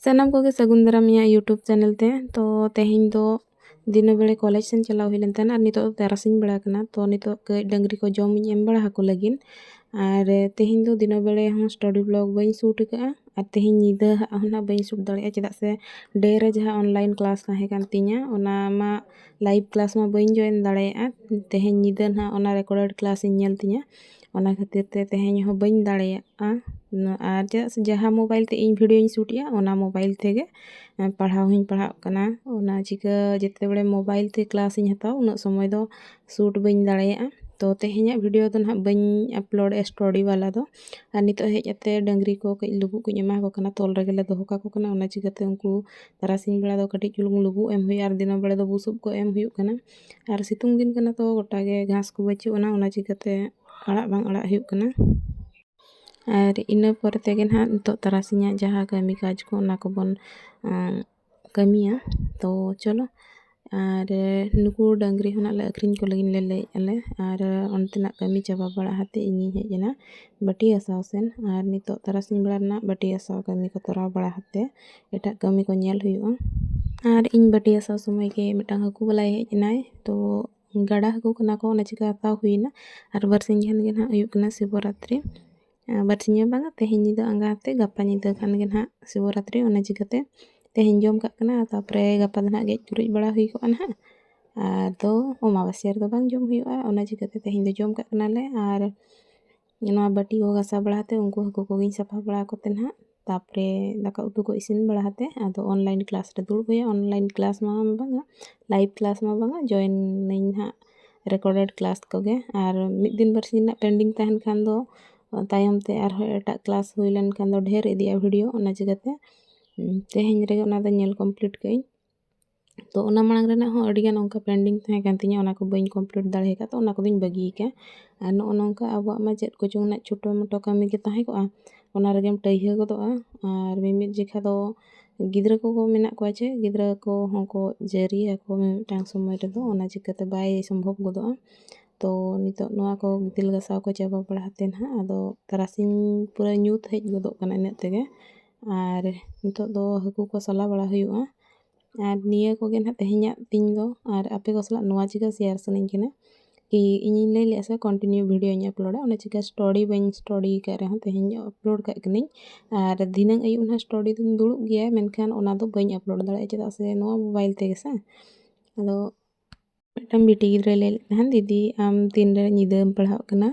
ᱥᱟᱱᱟᱢ ᱠᱚᱜᱮ ᱥᱟᱹᱜᱩᱱ ᱫᱟᱨᱟᱢ ᱤᱧᱟᱹᱜ ᱤᱭᱩᱴᱩᱵᱽ ᱪᱮᱱᱮᱞ ᱛᱮ ᱛᱚ ᱛᱮᱦᱮᱧ ᱫᱚ ᱫᱤᱱᱟᱹ ᱵᱮᱲᱟ ᱠᱚᱞᱮᱡᱽ ᱥᱮᱱ ᱪᱟᱞᱟᱣ ᱦᱩᱭ ᱞᱮᱱ ᱛᱟᱦᱮᱱᱟ ᱟᱨ ᱱᱤᱛᱚᱜ ᱫᱚ ᱛᱟᱨᱟᱥᱤᱧ ᱵᱮᱲᱟ ᱠᱟᱱᱟ ᱛᱚ ᱱᱤᱛᱚᱜ ᱠᱟᱹᱡ ᱰᱟᱹᱝᱨᱤ ᱠᱚ ᱡᱚᱢ ᱤᱧ ᱮᱢ ᱵᱟᱲᱟ ᱟᱠᱚ ᱞᱟᱹᱜᱤᱫ ᱟᱨ ᱛᱮᱦᱮᱧ ᱫᱚ ᱫᱤᱱᱟᱹ ᱵᱮᱲᱟ ᱦᱚᱸ ᱥᱴᱚᱰᱤ ᱵᱞᱚᱜ ᱵᱟᱹᱧ ᱥᱩᱴ ᱟᱠᱟᱫᱼᱟ ᱟᱨ ᱛᱮᱦᱮᱧ ᱧᱤᱫᱟᱹ ᱦᱟᱸᱜ ᱦᱚᱸ ᱱᱟᱜ ᱵᱟᱹᱧ ᱥᱩᱴ ᱫᱟᱲᱮᱭᱟᱜᱼᱟ ᱪᱮᱫᱟᱜ ᱥᱮ ᱰᱮ ᱨᱮ ᱡᱟᱦᱟᱸ ᱚᱱᱞᱟᱭᱤᱱ ᱠᱞᱟᱥ ᱛᱟᱦᱮᱸ ᱠᱟᱱ ᱛᱤᱧᱟᱹ ᱚᱱᱟ ᱢᱟ ᱞᱟᱭᱤᱵᱷ ᱠᱞᱟᱥ ᱢᱟ ᱵᱟᱹᱧ ᱡᱚᱭᱮᱱ ᱫᱟᱲᱮᱭᱟᱜᱼᱟ ᱛᱮᱦᱮᱧ ᱧᱤᱫᱟᱹ ᱱᱟᱜ ᱚᱱᱟ ᱨᱮᱠᱚᱨᱰᱮᱰ ᱠᱞᱟᱥ ᱤᱧ ᱧᱮᱞ ᱛᱤᱧᱟᱹ ᱚᱱᱟ ᱠᱷᱟᱹᱛᱤᱨ ᱛᱮ ᱛᱮᱦᱮᱧ ᱦᱚᱸ ᱵᱟᱹᱧ ᱫᱟᱲᱮᱭᱟᱜᱼᱟ ᱩᱱᱟᱹᱜ ᱟᱨ ᱪᱮᱫᱟᱜ ᱥᱮ ᱡᱟᱦᱟᱸ ᱢᱳᱵᱟᱭᱤᱞ ᱛᱮ ᱤᱧ ᱵᱷᱤᱰᱭᱳᱧ ᱥᱩᱴ ᱮᱜᱼᱟ ᱚᱱᱟ ᱢᱳᱵᱟᱭᱤᱞ ᱛᱮᱜᱮ ᱯᱟᱲᱦᱟᱣ ᱦᱚᱸᱧ ᱯᱟᱲᱦᱟᱜ ᱠᱟᱱᱟ ᱚᱱᱟ ᱪᱤᱠᱟᱹ ᱡᱮᱛᱮ ᱵᱟᱲᱮ ᱢᱳᱵᱟᱭᱤᱞ ᱛᱮ ᱠᱞᱟᱥ ᱤᱧ ᱦᱟᱛᱟᱣ ᱩᱱᱟᱹᱜ ᱥᱚᱢᱚᱭ ᱫᱚ ᱥᱩᱴ ᱵᱟᱹᱧ ᱫᱟᱲᱮᱭᱟᱜᱼᱟ ᱛᱳ ᱛᱮᱦᱮᱧᱟᱜ ᱵᱷᱤᱰᱭᱳ ᱫᱚ ᱦᱟᱸᱜ ᱵᱟᱹᱧ ᱟᱯᱞᱳᱰ ᱮᱜᱼᱟ ᱥᱴᱳᱨᱤ ᱵᱟᱞᱟ ᱫᱚ ᱟᱨ ᱱᱤᱛᱚᱜ ᱦᱮᱡ ᱠᱟᱛᱮ ᱰᱟᱹᱝᱨᱤ ᱠᱚ ᱠᱟᱹᱡ ᱞᱩᱵᱩᱜ ᱠᱚᱧ ᱮᱢᱟ ᱠᱚ ᱠᱟᱱᱟ ᱛᱚᱞ ᱨᱮᱜᱮᱞᱮ ᱫᱚᱦᱚ ᱠᱟᱠᱚ ᱠᱟᱱᱟ ᱚᱱᱟ ᱪᱤᱠᱟᱹᱛᱮ ᱩᱱᱠᱩ ᱛᱟᱨᱟᱥᱤᱧ ᱵᱮᱲᱟ ᱫᱚ ᱠᱟᱹᱴᱤᱡ ᱪᱩᱞᱩᱝ ᱞᱩᱵᱩᱜ ᱮᱢ ᱦᱩᱭᱩᱜᱼᱟ ᱟᱨ ᱫᱤᱱᱟᱹᱢ ᱵᱮᱲᱟ ᱫᱚ ᱵᱩᱥᱩᱵ ᱠᱚ ᱮᱢ ᱦᱩᱭᱩᱜ ᱠᱟᱱᱟ ᱟᱨ ᱥᱤᱛᱩᱝ ᱫᱤᱱ ᱠᱟᱱᱟ ᱛᱚ ᱜᱚᱴᱟ ᱜᱮ ᱜᱷᱟᱥ ᱠᱚ ᱵᱟᱹᱪᱩᱜ ᱟᱱᱟ ᱚᱱᱟ ᱪᱤᱠᱟᱹᱛᱮ ᱟᱲᱟᱜ ᱵᱟᱝ ᱟᱲᱟᱜ ᱦᱩᱭᱩᱜ ᱠᱟᱱᱟ ᱟᱨ ᱤᱱᱟᱹ ᱯᱚᱨᱮ ᱛᱮᱜᱮ ᱱᱟᱦᱟᱜ ᱱᱤᱛᱚᱜ ᱛᱟᱨᱟᱥᱤᱧᱟᱜ ᱡᱟᱦᱟᱸ ᱠᱟᱹᱢᱤ ᱠᱟᱡᱽ ᱠᱚ ᱚᱱᱟ ᱠᱚᱵᱚᱱ ᱠᱟᱹᱢᱤᱭᱟ ᱛᱚ ᱪᱚᱞᱚ ᱟᱨ ᱱᱩᱠᱩ ᱰᱟᱹᱝᱨᱤ ᱦᱚᱸ ᱱᱟᱦᱟᱜ ᱞᱮ ᱟᱹᱠᱷᱨᱤᱧ ᱠᱚ ᱞᱟᱹᱜᱤᱫ ᱞᱮ ᱞᱟᱹᱭᱮᱫᱼᱟ ᱞᱮ ᱟᱨ ᱚᱱᱛᱮᱱᱟᱜ ᱠᱟᱹᱢᱤ ᱪᱟᱵᱟ ᱵᱟᱲᱟ ᱠᱟᱛᱮᱫ ᱤᱧᱤᱧ ᱦᱮᱡ ᱮᱱᱟ ᱵᱟᱹᱴᱤ ᱜᱟᱥᱟᱣ ᱥᱮᱱ ᱟᱨ ᱱᱤᱛᱚᱜ ᱛᱟᱨᱟᱥᱤᱧ ᱵᱮᱲᱟ ᱨᱮᱱᱟᱜ ᱵᱟᱹᱴᱤ ᱜᱟᱥᱟᱣ ᱠᱟᱹᱢᱤ ᱠᱚ ᱛᱚᱨᱟᱣ ᱵᱟᱲᱟ ᱠᱟᱛᱮᱫ ᱮᱴᱟᱜ ᱠᱟᱹᱢᱤ ᱠᱚ ᱧᱮᱞ ᱦᱩᱭᱩᱜᱼᱟ ᱟᱨ ᱤᱧ ᱵᱟᱹᱴᱤ ᱜᱟᱥᱟᱣ ᱥᱚᱢᱚᱭ ᱜᱮ ᱢᱤᱫᱴᱟᱝ ᱦᱟᱹᱠᱩ ᱵᱟᱞᱟᱭ ᱦᱮᱡ ᱮᱱᱟᱭ ᱛᱚ ᱜᱟᱰᱟ ᱦᱟᱹᱠᱩ ᱠᱟᱱᱟ ᱠᱚ ᱚᱱᱟ ᱪᱤᱠᱟᱹ ᱦᱟᱛᱟᱣ ᱦᱩᱭᱱᱟ ᱟᱨ ᱵᱟᱨᱥᱤᱧ ᱜᱟᱱ ᱜᱮ ᱱᱟᱦᱟᱜ ᱦᱩᱭᱩᱜ ᱠᱟᱱᱟ ᱥᱤᱵᱚᱨᱟᱛᱨᱤ ᱵᱟᱨᱥᱤᱧ ᱦᱚᱸ ᱵᱟᱝᱟ ᱛᱮᱦᱮᱧ ᱧᱤᱫᱟᱹ ᱟᱸᱜᱟ ᱠᱟᱛᱮᱫ ᱜᱟᱯᱟ ᱧᱤᱫᱟᱹ ᱠᱷᱟᱱ ᱜᱮ ᱱᱟᱦᱟᱜ ᱥᱤᱵᱚᱨᱟᱛᱨᱤ ᱚᱱᱟ ᱪᱤᱠᱟᱹᱛᱮ ᱛᱮᱦᱮᱧ ᱡᱚᱢ ᱠᱟᱜ ᱠᱟᱱᱟ ᱛᱟᱨᱯᱚᱨᱮ ᱜᱟᱯᱟ ᱫᱚ ᱱᱟᱦᱟᱜ ᱜᱮᱡ ᱜᱩᱨᱤᱡ ᱵᱟᱲᱟ ᱦᱩᱭ ᱠᱚᱜᱼᱟ ᱱᱟᱦᱟᱜ ᱟᱫᱚ ᱚᱢᱟᱵᱟᱥᱭᱟᱹ ᱨᱮᱫᱚ ᱵᱟᱝ ᱡᱚᱢ ᱦᱩᱭᱩᱜᱼᱟ ᱚᱱᱟ ᱪᱤᱠᱟᱹᱛᱮ ᱛᱮᱦᱮᱧ ᱫᱚ ᱡᱚᱢ ᱠᱟᱜ ᱠᱟᱱᱟᱞᱮ ᱟᱨ ᱱᱚᱣᱟ ᱵᱟᱹᱴᱤ ᱠᱚ ᱜᱟᱥᱟᱣ ᱵᱟᱲᱟ ᱠᱟᱛᱮᱫ ᱩᱱᱠᱩ ᱦᱟᱹᱠᱩ ᱠᱚᱜᱮᱧ ᱥᱟᱯᱷᱟ ᱵᱟᱲᱟ ᱟᱠᱚ ᱛᱮ ᱱᱟᱦᱟᱜ ᱛᱟᱨᱯᱚᱨᱮ ᱫᱟᱠᱟ ᱩᱛᱩ ᱠᱚ ᱤᱥᱤᱱ ᱵᱟᱲᱟ ᱠᱟᱛᱮᱫ ᱟᱫᱚ ᱚᱱᱞᱟᱭᱤᱱ ᱠᱞᱟᱥ ᱨᱮ ᱫᱩᱲᱩᱵ ᱦᱩᱭᱩᱜᱼᱟ ᱚᱱᱞᱟᱭᱤᱱ ᱠᱞᱟᱥ ᱢᱟ ᱵᱟᱝᱟ ᱞᱟᱭᱤᱵᱽ ᱠᱞᱟᱥ ᱢᱟ ᱵᱟᱝᱟ ᱡᱚᱭᱮᱱ ᱟᱹᱧ ᱦᱟᱸᱜ ᱨᱮᱠᱚᱨᱰᱮᱰ ᱠᱞᱟᱥ ᱠᱚᱜᱮ ᱟᱨ ᱢᱤᱫ ᱫᱤᱱ ᱵᱟᱨ ᱥᱤᱧ ᱨᱮᱱᱟᱜ ᱯᱮᱱᱰᱤᱝ ᱛᱟᱦᱮᱱ ᱠᱷᱟᱱ ᱫᱚ ᱛᱟᱭᱚᱢ ᱛᱮ ᱟᱨᱦᱚᱸ ᱮᱴᱟᱜ ᱠᱞᱟᱥ ᱦᱩᱭ ᱞᱮᱱᱠᱷᱟᱱ ᱫᱚ ᱰᱷᱮᱨ ᱤᱫᱤᱜᱼᱟ ᱵᱷᱤᱰᱤᱭᱳ ᱚᱱᱟ ᱪᱤᱠᱟᱹᱛᱮ ᱛᱮᱦᱮᱧ ᱨᱮᱜᱮ ᱚᱱᱟ ᱫᱚ ᱧᱮᱞ ᱠᱚᱢᱯᱞᱤᱴ ᱠᱟᱜ ᱟᱹᱧ ᱛᱚ ᱚᱱᱟ ᱢᱟᱲᱟᱝ ᱨᱮᱱᱟᱜ ᱦᱚᱸ ᱟᱹᱰᱤᱜᱟᱱ ᱚᱱᱠᱟ ᱯᱮᱱᱰᱤᱝ ᱛᱟᱦᱮᱸ ᱠᱟᱱ ᱛᱤᱧᱟᱹ ᱚᱱᱟ ᱠᱚ ᱵᱟᱹᱧ ᱠᱚᱢᱯᱞᱤᱴ ᱫᱟᱲᱮ ᱠᱟᱫᱟ ᱛᱚ ᱚᱱᱟ ᱠᱚᱫᱚᱧ ᱵᱟᱹᱜᱤ ᱠᱟᱜᱼᱟ ᱟᱨ ᱱᱚᱜᱼᱚ ᱱᱚᱝᱠᱟ ᱟᱵᱚᱣᱟᱜ ᱢᱟ ᱪᱮᱫ ᱠᱚᱪᱚᱝ ᱨᱮᱱᱟᱜ ᱪᱷᱳᱴᱳ ᱢᱳᱴᱳ ᱠᱟᱹᱢᱤ ᱜᱮ ᱛᱟᱦᱮᱸ ᱠᱚᱜᱼᱟ ᱚᱱᱟ ᱨᱮᱜᱮᱢ ᱴᱟᱹᱭᱦᱟᱹ ᱜᱚᱫᱚᱜᱼᱟ ᱟᱨ ᱢᱤᱢᱤᱫ ᱡᱚᱠᱷᱟ ᱫᱚ ᱜᱤᱫᱽᱨᱟᱹ ᱠᱚᱠᱚ ᱢᱮᱱᱟᱜ ᱠᱚᱣᱟ ᱪᱮᱫ ᱜᱤᱫᱽᱨᱟᱹ ᱠᱚᱦᱚᱸ ᱠᱚ ᱡᱟᱹᱨᱤᱭᱟ ᱠᱚ ᱢᱤᱢᱤᱫᱴᱟᱝ ᱥᱚᱢᱚᱭ ᱨᱮᱫᱚ ᱚᱱᱟ ᱪᱤᱠᱟᱹᱛᱮ ᱵᱟᱭ ᱥᱚᱢᱵᱷᱚᱵ ᱜᱚᱫᱚᱜᱼᱟ ᱛᱚ ᱱᱤᱛᱚᱜ ᱱᱚᱣᱟ ᱠᱚ ᱜᱤᱛᱤᱞ ᱜᱟᱥᱟᱣ ᱠᱚ ᱪᱟᱵᱟ ᱵᱟᱲᱟ ᱠᱟᱛᱮᱫ ᱦᱟᱸᱜ ᱟᱫᱚ ᱛᱟᱨᱟᱥᱤᱧ ᱯᱩᱨᱟᱹ ᱧᱩᱛ ᱦᱮᱡ ᱜᱚᱫᱚᱜ ᱠᱟᱱᱟ ᱤᱱᱟᱹᱜ ᱛᱮᱜᱮ ᱟᱨ ᱱᱤᱛᱚᱜ ᱫᱚ ᱦᱟᱹᱠᱩ ᱠᱚ ᱥᱟᱞᱟ ᱵᱟᱲᱟ ᱦᱩᱭᱩᱜᱼᱟ ᱟᱨ ᱱᱤᱭᱟᱹ ᱠᱚᱜᱮ ᱱᱟᱦᱟᱜ ᱛᱮᱦᱮᱧᱟᱜ ᱛᱤᱧ ᱫᱚ ᱟᱨ ᱟᱯᱮ ᱠᱚ ᱥᱟᱞᱟᱜ ᱱᱚᱣᱟ ᱪᱤᱠᱟᱹ ᱥᱮᱭᱟᱨ ᱥᱟᱱᱟᱧ ᱠᱟᱱᱟ ᱠᱤ ᱤᱧᱤᱧ ᱞᱟᱹᱭ ᱞᱮᱫᱼᱟ ᱥᱮ ᱠᱚᱱᱴᱤᱱᱤᱭᱩ ᱵᱷᱤᱰᱭᱳᱧ ᱟᱯᱞᱳᱰᱟ ᱚᱱᱟ ᱪᱤᱠᱟᱹ ᱥᱴᱳᱨᱤ ᱵᱟᱹᱧ ᱥᱴᱳᱨᱤ ᱟᱠᱟᱫ ᱨᱮᱦᱚᱸ ᱛᱮᱦᱮᱧ ᱟᱯᱞᱳᱰ ᱠᱟᱜ ᱠᱟᱹᱱᱟᱹᱧ ᱟᱨ ᱫᱷᱤᱱᱟᱹᱱ ᱟᱹᱭᱩᱵ ᱱᱟᱦᱟᱜ ᱥᱴᱳᱨᱤ ᱫᱚᱧ ᱫᱩᱲᱩᱵ ᱜᱮᱭᱟ ᱢᱮᱱᱠᱷᱟᱱ ᱚᱱᱟ ᱫᱚ ᱵᱟᱹᱧ ᱟᱯᱞᱳᱰ ᱫᱟᱲᱮᱭᱟᱜᱼᱟ ᱪᱮᱫᱟᱜ ᱥᱮ ᱱᱚᱣᱟ ᱢᱳᱵᱟᱭᱤᱞ ᱛᱮᱜᱮ ᱥᱮ ᱟᱫᱚ ᱢᱤᱫᱴᱟᱝ ᱵᱤᱴᱤ ᱜᱤᱫᱽᱨᱟᱹᱭ ᱞᱟᱹᱭ ᱞᱮᱫ ᱛᱟᱦᱮᱱ ᱫᱤᱫᱤ ᱟᱢ ᱛᱤᱱᱨᱮ ᱧᱤᱫᱟᱹᱢ ᱯᱟᱲᱦᱟᱜ ᱠᱟᱱᱟ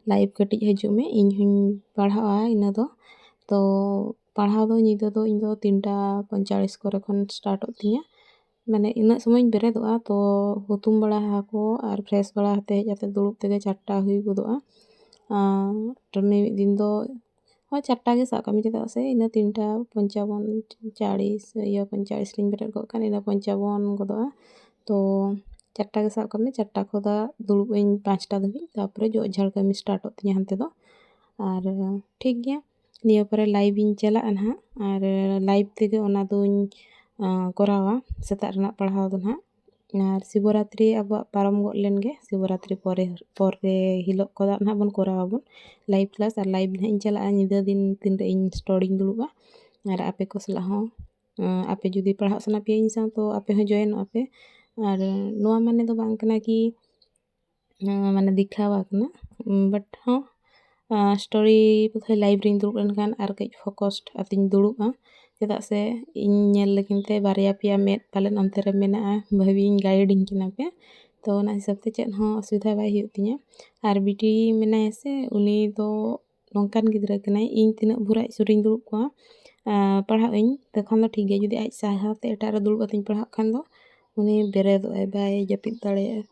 ᱞᱟᱭᱤᱵᱷ ᱠᱟᱹᱴᱤᱡ ᱦᱤᱡᱩᱜ ᱢᱮ ᱤᱧ ᱦᱚᱸᱧ ᱯᱟᱲᱦᱟᱜᱼᱟ ᱤᱱᱟᱹ ᱫᱚ ᱛᱚ ᱯᱟᱲᱦᱟᱣ ᱫᱚ ᱧᱤᱫᱟᱹ ᱫᱚ ᱤᱧ ᱫᱚ ᱛᱤᱱᱴᱟ ᱯᱚᱸᱭᱛᱟᱞᱞᱤᱥ ᱠᱚᱨᱮ ᱠᱷᱚᱱ ᱥᱴᱟᱴᱚᱜ ᱛᱤᱧᱟᱹ ᱢᱟᱱᱮ ᱤᱱᱟᱹᱜ ᱥᱚᱢᱚᱭᱤᱧ ᱵᱮᱨᱮᱫᱚᱜᱼᱟ ᱛᱚ ᱦᱩᱛᱩᱢ ᱵᱟᱲᱟ ᱟᱠᱚ ᱟᱨ ᱯᱷᱨᱮᱥ ᱵᱟᱲᱟ ᱠᱟᱛᱮᱫ ᱦᱮᱡ ᱠᱟᱛᱮᱫ ᱫᱩᱲᱩᱵ ᱛᱮᱜᱮ ᱪᱟᱨᱴᱟ ᱦᱩᱭ ᱜᱚᱫᱚᱜᱼᱟ ᱟᱨ ᱢᱤᱢᱤᱫ ᱫᱤᱱ ᱫᱚ ᱦᱳᱭ ᱪᱟᱨᱴᱟ ᱜᱮ ᱥᱟᱵ ᱠᱟᱜ ᱢᱮ ᱪᱮᱫᱟᱜ ᱥᱮ ᱤᱱᱟᱹ ᱛᱤᱱᱴᱟ ᱯᱚᱧᱪᱟᱵᱚᱱ ᱪᱟᱲᱤᱥ ᱤᱭᱟᱹ ᱯᱚᱧᱪᱟᱲᱤᱥ ᱨᱤᱧ ᱵᱮᱨᱮᱫ ᱠᱚᱜ ᱠᱷᱟᱱ ᱤᱱᱟᱹ ᱯᱚᱧᱪᱟᱵᱚᱱ ᱜᱚᱫᱚᱜᱼᱟ ᱛᱚ ᱪᱟᱨᱴᱟ ᱜᱮ ᱥᱟᱵ ᱠᱟᱜ ᱢᱮ ᱪᱟᱨᱴᱟ ᱠᱷᱚᱱᱟᱜ ᱫᱩᱲᱩᱵ ᱟᱹᱧ ᱯᱟᱸᱪᱴᱟ ᱫᱷᱟᱹᱵᱤᱡ ᱛᱟᱨᱯᱚᱨᱮ ᱡᱚᱜ ᱡᱷᱟᱲ ᱠᱟᱹᱢᱤ ᱥᱴᱟᱨᱴᱚᱜ ᱛᱤᱧᱟᱹ ᱦᱟᱱᱛᱮ ᱫᱚ ᱟᱨ ᱴᱷᱤᱠ ᱜᱮᱭᱟ ᱱᱤᱭᱟᱹ ᱯᱚᱨᱮ ᱞᱟᱭᱤᱵᱽ ᱤᱧ ᱪᱟᱞᱟᱜᱼᱟ ᱱᱟᱦᱟᱜ ᱟᱨ ᱞᱟᱭᱤᱵᱽ ᱛᱮᱜᱮ ᱚᱱᱟ ᱫᱚᱧ ᱠᱚᱨᱟᱣᱟ ᱥᱮᱛᱟᱜ ᱨᱮᱱᱟᱜ ᱯᱟᱲᱦᱟᱣ ᱫᱚ ᱱᱟᱦᱟᱜ ᱟᱨ ᱥᱤᱵᱚ ᱨᱟᱛᱨᱤ ᱟᱵᱚᱣᱟᱜ ᱯᱟᱨᱚᱢ ᱜᱚᱫ ᱞᱮᱱ ᱜᱮ ᱥᱤᱵᱚ ᱨᱟᱛᱨᱤ ᱯᱚᱨᱮ ᱯᱚᱨᱮ ᱦᱤᱞᱳᱜ ᱠᱚᱫᱚ ᱱᱟᱦᱟᱜ ᱵᱚᱱ ᱠᱚᱨᱟᱣ ᱟᱵᱚᱱ ᱞᱟᱭᱤᱵᱷ ᱠᱞᱟᱥ ᱟᱨ ᱞᱟᱭᱤᱵᱷ ᱱᱟᱦᱟᱜ ᱤᱧ ᱪᱟᱞᱟᱜᱼᱟ ᱧᱤᱫᱟᱹ ᱫᱤᱱ ᱛᱤᱱ ᱨᱮ ᱤᱧ ᱥᱴᱳᱨ ᱤᱧ ᱫᱩᱲᱩᱵᱟ ᱟᱨ ᱟᱯᱮ ᱠᱚ ᱥᱟᱞᱟᱜ ᱦᱚᱸ ᱟᱯᱮ ᱡᱩᱫᱤ ᱯᱟᱲᱦᱟᱜ ᱥᱟᱱᱟ ᱯᱮᱭᱟ ᱤᱧ ᱥᱟᱶ ᱛᱚ ᱟᱯᱮ ᱦᱚᱸ ᱡᱚᱭᱮᱱᱚᱜᱼᱟ ᱯᱮ ᱟᱨ ᱱᱚᱣᱟ ᱢᱟᱱᱮ ᱫᱚ ᱵᱟᱝ ᱠᱟᱱᱟ ᱠᱤ ᱢᱟᱱᱮ ᱫᱮᱠᱷᱟᱣ ᱟᱠᱟᱱᱟ ᱵᱟᱴ ᱦᱚᱸ ᱥᱴᱳᱨᱤ ᱵᱚᱫᱷᱚᱭ ᱞᱟᱭᱤᱵᱷ ᱨᱤᱧ ᱫᱩᱲᱩᱵ ᱞᱮᱱᱠᱷᱟᱱ ᱟᱨ ᱠᱟᱹᱡ ᱯᱷᱳᱠᱚᱥᱰ ᱠᱟᱛᱮᱧ ᱫᱩᱲᱩᱵᱼᱟ ᱪᱮᱫᱟᱜ ᱥᱮ ᱤᱧ ᱧᱮᱞ ᱞᱟᱹᱜᱤᱫ ᱛᱮ ᱵᱟᱨᱭᱟ ᱯᱮᱭᱟ ᱢᱮᱫ ᱯᱟᱞᱮᱱ ᱚᱱᱛᱮ ᱨᱮ ᱢᱮᱱᱟᱜᱼᱟ ᱵᱷᱟᱹᱜᱤ ᱜᱤᱧ ᱜᱟᱭᱤᱰ ᱤᱧ ᱠᱟᱱᱟ ᱯᱮ ᱛᱳ ᱚᱱᱟ ᱦᱤᱥᱟᱹᱵ ᱛᱮ ᱪᱮᱫ ᱦᱚᱸ ᱚᱥᱩᱵᱤᱫᱷᱟ ᱵᱟᱭ ᱦᱩᱭᱩᱜ ᱛᱤᱧᱟᱹ ᱟᱨ ᱵᱤᱴᱤ ᱢᱮᱱᱟᱭᱟ ᱥᱮ ᱩᱱᱤ ᱫᱚ ᱱᱚᱝᱠᱟᱱ ᱜᱤᱫᱽᱨᱟᱹ ᱠᱟᱱᱟᱭ ᱤᱧ ᱛᱤᱱᱟᱹᱜ ᱵᱷᱳᱨ ᱟᱡ ᱥᱩᱨᱤᱧ ᱫᱩᱲᱩᱵ ᱠᱚᱜᱼᱟ ᱯᱟᱲᱦᱟᱜ ᱟᱹᱧ ᱛᱚᱠᱷᱚᱱ ᱫᱚ ᱴᱷᱤᱠ ᱜᱮᱭᱟ ᱡᱩᱫᱤ ᱟᱡ ᱥᱟᱦᱟ ᱛᱮ ᱮᱴᱟᱜ ᱨᱮ ᱫᱩᱲᱩᱵ ᱠᱟᱛᱮᱧ ᱯᱟᱲᱦᱟᱜ ᱠᱷᱟᱱ ᱫᱚ ᱩᱱᱤ ᱵᱮᱨᱮᱫᱚᱜ ᱟᱭ ᱵᱟᱭ ᱡᱟᱹᱯᱤᱫ ᱫᱟᱲᱮᱭᱟᱜᱼᱟ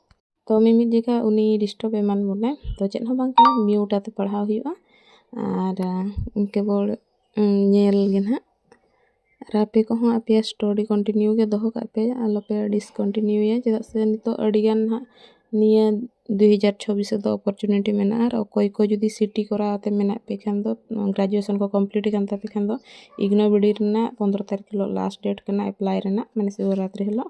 ᱛᱚ ᱢᱤᱢᱤᱫ ᱡᱚᱠᱷᱟᱡ ᱩᱱᱤ ᱰᱤᱥᱴᱟᱵᱽ ᱮᱢᱟᱱ ᱵᱚᱱᱟᱭ ᱛᱚ ᱪᱮᱫ ᱦᱚᱸ ᱵᱟᱝ ᱠᱟᱱᱟ ᱢᱤᱭᱩᱴ ᱟᱛᱮ ᱯᱟᱲᱦᱟᱣ ᱦᱩᱭᱩᱜᱼᱟ ᱟᱨ ᱠᱮᱵᱚᱞ ᱧᱮᱞ ᱜᱮ ᱦᱟᱸᱜ ᱟᱨ ᱟᱯᱮ ᱠᱚᱦᱚᱸ ᱟᱯᱮᱭᱟᱜ ᱥᱴᱳᱨᱤ ᱠᱚᱱᱴᱤᱱᱤᱭᱩ ᱜᱮ ᱫᱚᱦᱚ ᱠᱟᱜ ᱯᱮ ᱟᱞᱚ ᱯᱮ ᱰᱤᱥᱠᱚᱱᱴᱤᱱᱤᱭᱩᱭᱟ ᱪᱮᱫᱟᱜ ᱥᱮ ᱱᱤᱛᱚᱜ ᱟᱹᱰᱤ ᱜᱟᱱ ᱦᱟᱸᱜ ᱱᱤᱭᱟᱹ ᱫᱩ ᱦᱟᱡᱟᱨ ᱪᱷᱚᱵᱵᱤᱥ ᱨᱮᱫᱚ ᱚᱯᱚᱨᱪᱩᱱᱤᱴᱤ ᱢᱮᱱᱟᱜᱼᱟ ᱟᱨ ᱚᱠᱚᱭ ᱠᱚ ᱡᱩᱫᱤ ᱥᱤᱴᱤ ᱠᱚᱨᱟᱣ ᱠᱟᱛᱮ ᱢᱮᱱᱟᱜ ᱯᱮ ᱠᱷᱟᱱ ᱫᱚ ᱜᱨᱮᱡᱩᱭᱮᱥᱚᱱ ᱠᱚ ᱠᱚᱢᱯᱞᱤᱴ ᱟᱠᱟᱱ ᱛᱟᱯᱮ ᱠᱷᱟᱱ ᱫᱚ ᱤᱜᱽᱱᱳ ᱵᱤ ᱰᱤ ᱨᱮᱱᱟᱜ ᱯᱚᱸᱫᱽᱨᱚ ᱛᱟᱹᱨᱤᱠᱷ ᱦᱤᱞᱳᱜ ᱞᱟᱥᱴ ᱰᱮᱴ ᱠᱟᱱᱟ ᱮᱯᱞᱟᱭ ᱨᱮᱱᱟᱜ ᱢᱟᱱᱮ ᱥᱤᱵᱚᱨᱟᱛᱨᱤ ᱦᱤᱞᱳᱜ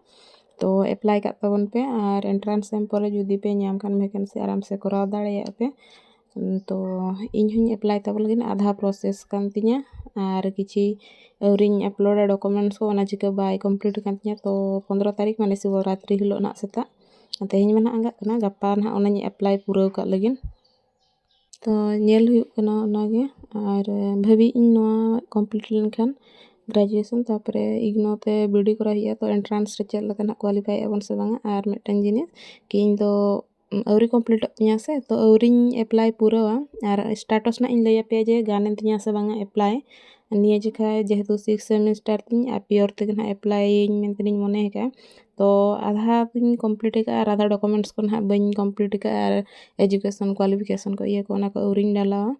ᱛᱚ ᱮᱯᱞᱟᱭ ᱠᱟᱜ ᱛᱟᱵᱚᱱ ᱯᱮ ᱟᱨ ᱮᱱᱴᱨᱟᱱᱥ ᱮᱢ ᱯᱚᱨᱮ ᱡᱩᱫᱤ ᱯᱮ ᱧᱟᱢ ᱠᱷᱟᱱ ᱵᱷᱮᱠᱮᱱᱥᱤ ᱟᱨᱟᱢ ᱥᱮ ᱠᱚᱨᱟᱣ ᱫᱟᱲᱮᱭᱟᱜᱼᱟ ᱯᱮ ᱛᱚ ᱤᱧ ᱦᱚᱸᱧ ᱮᱯᱞᱟᱭ ᱛᱟᱵᱚᱱ ᱞᱟᱹᱜᱤᱫ ᱟᱫᱷᱟ ᱯᱨᱚᱥᱮᱥ ᱠᱟᱱ ᱛᱤᱧᱟᱹ ᱟᱨ ᱠᱤᱪᱷᱤ ᱟᱹᱣᱨᱤᱧ ᱟᱯᱞᱳᱰᱟ ᱰᱚᱠᱳᱢᱮᱱᱴᱥ ᱠᱚ ᱚᱱᱟ ᱪᱤᱠᱟᱹ ᱵᱟᱭ ᱠᱚᱢᱯᱞᱤᱴ ᱟᱠᱟᱱ ᱛᱤᱧᱟᱹ ᱛᱚ ᱯᱚᱸᱫᱽᱨᱚ ᱛᱟᱹᱨᱤᱠᱷ ᱢᱟᱱᱮ ᱥᱤᱵᱚ ᱨᱟᱛᱨᱤ ᱦᱤᱞᱳᱜ ᱦᱟᱸᱜ ᱥᱮᱛᱟᱜ ᱛᱮᱦᱮᱧ ᱢᱟ ᱦᱟᱸᱜ ᱟᱸᱜᱟᱜ ᱠᱟᱱᱟ ᱜᱟᱯᱟ ᱦᱟᱸᱜ ᱚᱱᱟᱧ ᱮᱯᱞᱟᱭ ᱯᱩᱨᱟᱹᱣ ᱠᱟᱜ ᱞᱟᱹᱜᱤᱫ ᱛᱚ ᱧᱮᱞ ᱦᱩᱭᱩᱜ ᱠᱟᱱᱟ ᱚᱱᱟᱜᱮ ᱟᱨ ᱵᱷᱟᱹᱵᱤᱭᱮᱫ ᱟᱹᱧ ᱱᱚᱣᱟ ᱠᱚᱢᱯᱞᱤᱴ ᱞᱮᱱᱠᱷᱟᱱ ᱜᱨᱮᱡᱩᱭᱮᱥᱚᱱ ᱛᱟᱨᱯᱚᱨᱮ ᱤᱜᱽᱱᱳ ᱛᱮ ᱵᱤᱭᱮᱰ ᱠᱚᱨᱟᱣ ᱦᱩᱭᱩᱜᱼᱟ ᱛᱚ ᱮᱱᱴᱨᱟᱱᱥ ᱨᱮ ᱪᱮᱫ ᱞᱮᱠᱟ ᱦᱟᱸᱜ ᱠᱳᱣᱟᱞᱤᱯᱷᱟᱭ ᱟᱵᱚᱱ ᱥᱮ ᱵᱟᱝᱟ ᱟᱨ ᱢᱤᱫᱴᱟᱱ ᱡᱤᱱᱤᱥ ᱠᱤ ᱤᱧᱫᱚ ᱟᱹᱣᱨᱤ ᱠᱚᱢᱯᱞᱤᱴᱚᱜ ᱛᱤᱧᱟᱹ ᱥᱮ ᱛᱚ ᱟᱹᱣᱨᱤᱧ ᱮᱯᱞᱟᱭ ᱯᱩᱨᱟᱹᱣᱟ ᱟᱨ ᱥᱴᱟᱴᱚᱥ ᱱᱟᱜ ᱤᱧ ᱞᱟᱹᱭᱟᱯᱮᱭᱟ ᱡᱮ ᱜᱟᱱᱮᱱ ᱛᱤᱧᱟᱹ ᱥᱮ ᱵᱟᱝᱟ ᱮᱯᱞᱟᱭ ᱱᱤᱭᱟᱹ ᱡᱚᱠᱷᱟᱡ ᱡᱮᱦᱮᱛᱩ ᱥᱤᱠᱥ ᱥᱮᱢᱤᱥᱴᱟᱨ ᱛᱤᱧ ᱟᱨ ᱯᱤᱭᱳᱨ ᱛᱮᱜᱮ ᱱᱟᱜ ᱮᱯᱞᱟᱭᱟᱹᱧ ᱢᱮᱱᱛᱮᱞᱤᱧ ᱢᱚᱱᱮ ᱟᱠᱟᱫᱼᱟ ᱛᱚ ᱟᱫᱷᱟ ᱫᱚᱧ ᱠᱚᱢᱯᱞᱤᱴ ᱟᱠᱟᱫᱼᱟ ᱟᱨ ᱟᱫᱷᱟ ᱰᱚᱠᱳᱢᱮᱱᱴᱥ ᱠᱚ ᱱᱟᱜ ᱵᱟᱹᱧ ᱠᱚᱢᱯᱞᱤᱴ ᱟᱠᱟᱫᱼᱟ ᱟᱨ ᱮᱰᱩᱠᱮᱥᱚᱱ ᱠᱚᱣᱟᱞᱤᱯᱷᱤᱠᱮᱥᱚᱱ ᱠᱚ ᱤᱭᱟᱹ ᱠᱚ ᱚᱱᱟ ᱠᱚ ᱟᱹᱣᱨᱤᱧ ᱰᱟᱞᱟᱣᱟ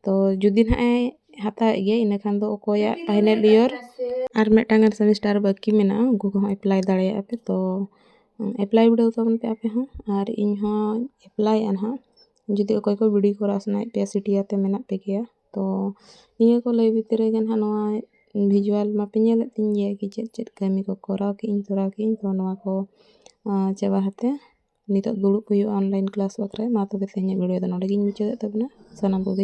ᱛᱚ ᱡᱩᱫᱤ ᱱᱟᱜ ᱮ ᱦᱟᱛᱟᱣᱮᱫ ᱜᱮᱭᱟ ᱤᱱᱟᱹ ᱠᱷᱟᱱ ᱫᱚ ᱚᱠᱚᱭᱟᱜ ᱯᱷᱟᱭᱱᱮᱞ ᱤᱭᱟᱨ ᱟᱨ ᱢᱤᱫᱴᱟᱝ ᱜᱟᱱ ᱥᱮᱢᱤᱥᱴᱟᱨ ᱵᱟᱹᱠᱤ ᱢᱮᱱᱟᱜᱼᱟ ᱩᱱᱠᱩ ᱠᱚᱦᱚᱸ ᱮᱯᱞᱟᱭ ᱫᱟᱲᱮᱭᱟᱜᱼᱟ ᱯᱮ ᱛᱚ ᱮᱯᱞᱟᱭ ᱵᱤᱰᱟᱹᱣ ᱛᱟᱵᱚᱱ ᱯᱮ ᱟᱯᱮ ᱦᱚᱸ ᱟᱨ ᱤᱧ ᱦᱚᱸ ᱮᱯᱞᱟᱭᱮᱜᱼᱟ ᱦᱟᱸᱜ ᱡᱩᱫᱤ ᱚᱠᱚᱭ ᱠᱚ ᱵᱤᱰᱤ ᱠᱚᱨᱟᱣ ᱥᱟᱱᱟᱭᱮᱫ ᱯᱮᱭᱟ ᱥᱤᱴᱤ ᱟᱯᱮ ᱢᱮᱱᱟᱜ ᱯᱮ ᱜᱮᱭᱟ ᱛᱚ ᱱᱤᱭᱟᱹ ᱠᱚ ᱞᱟᱹᱭ ᱵᱷᱤᱛᱨᱤ ᱨᱮᱜᱮ ᱦᱟᱸᱜ ᱱᱚᱣᱟ ᱵᱷᱤᱡᱩᱣᱟᱞ ᱢᱟᱯᱮ ᱧᱮᱞᱮᱫ ᱛᱤᱧ ᱜᱮᱭᱟ ᱠᱤ ᱪᱮᱫ ᱪᱮᱫ ᱠᱟᱹᱢᱤ ᱠᱚ ᱠᱚᱨᱟᱣ ᱠᱮᱜ ᱟᱹᱧ ᱛᱚᱨᱟᱣ ᱠᱮᱜ ᱟᱹᱧ ᱛᱚ ᱱᱚᱣᱟ ᱠᱚ ᱪᱟᱵᱟ ᱠᱟᱛᱮ ᱱᱤᱛᱚᱜ ᱫᱩᱲᱩᱵ ᱦᱩᱭᱩᱜᱼᱟ ᱚᱱᱞᱟᱭᱤᱱ ᱠᱞᱟᱥ ᱵᱟᱠᱷᱨᱟ ᱢᱟ ᱛᱚᱵᱮ ᱛᱮᱦᱮᱧᱟᱜ ᱵᱷᱤᱰᱤᱭᱳ ᱫᱚ ᱱᱚᱰᱮ ᱜᱮᱧ ᱢᱩᱪᱟᱹᱫᱮᱜ ᱛᱟᱵᱚᱱᱟ ᱥᱟᱱᱟᱢ ᱠᱚᱜᱮ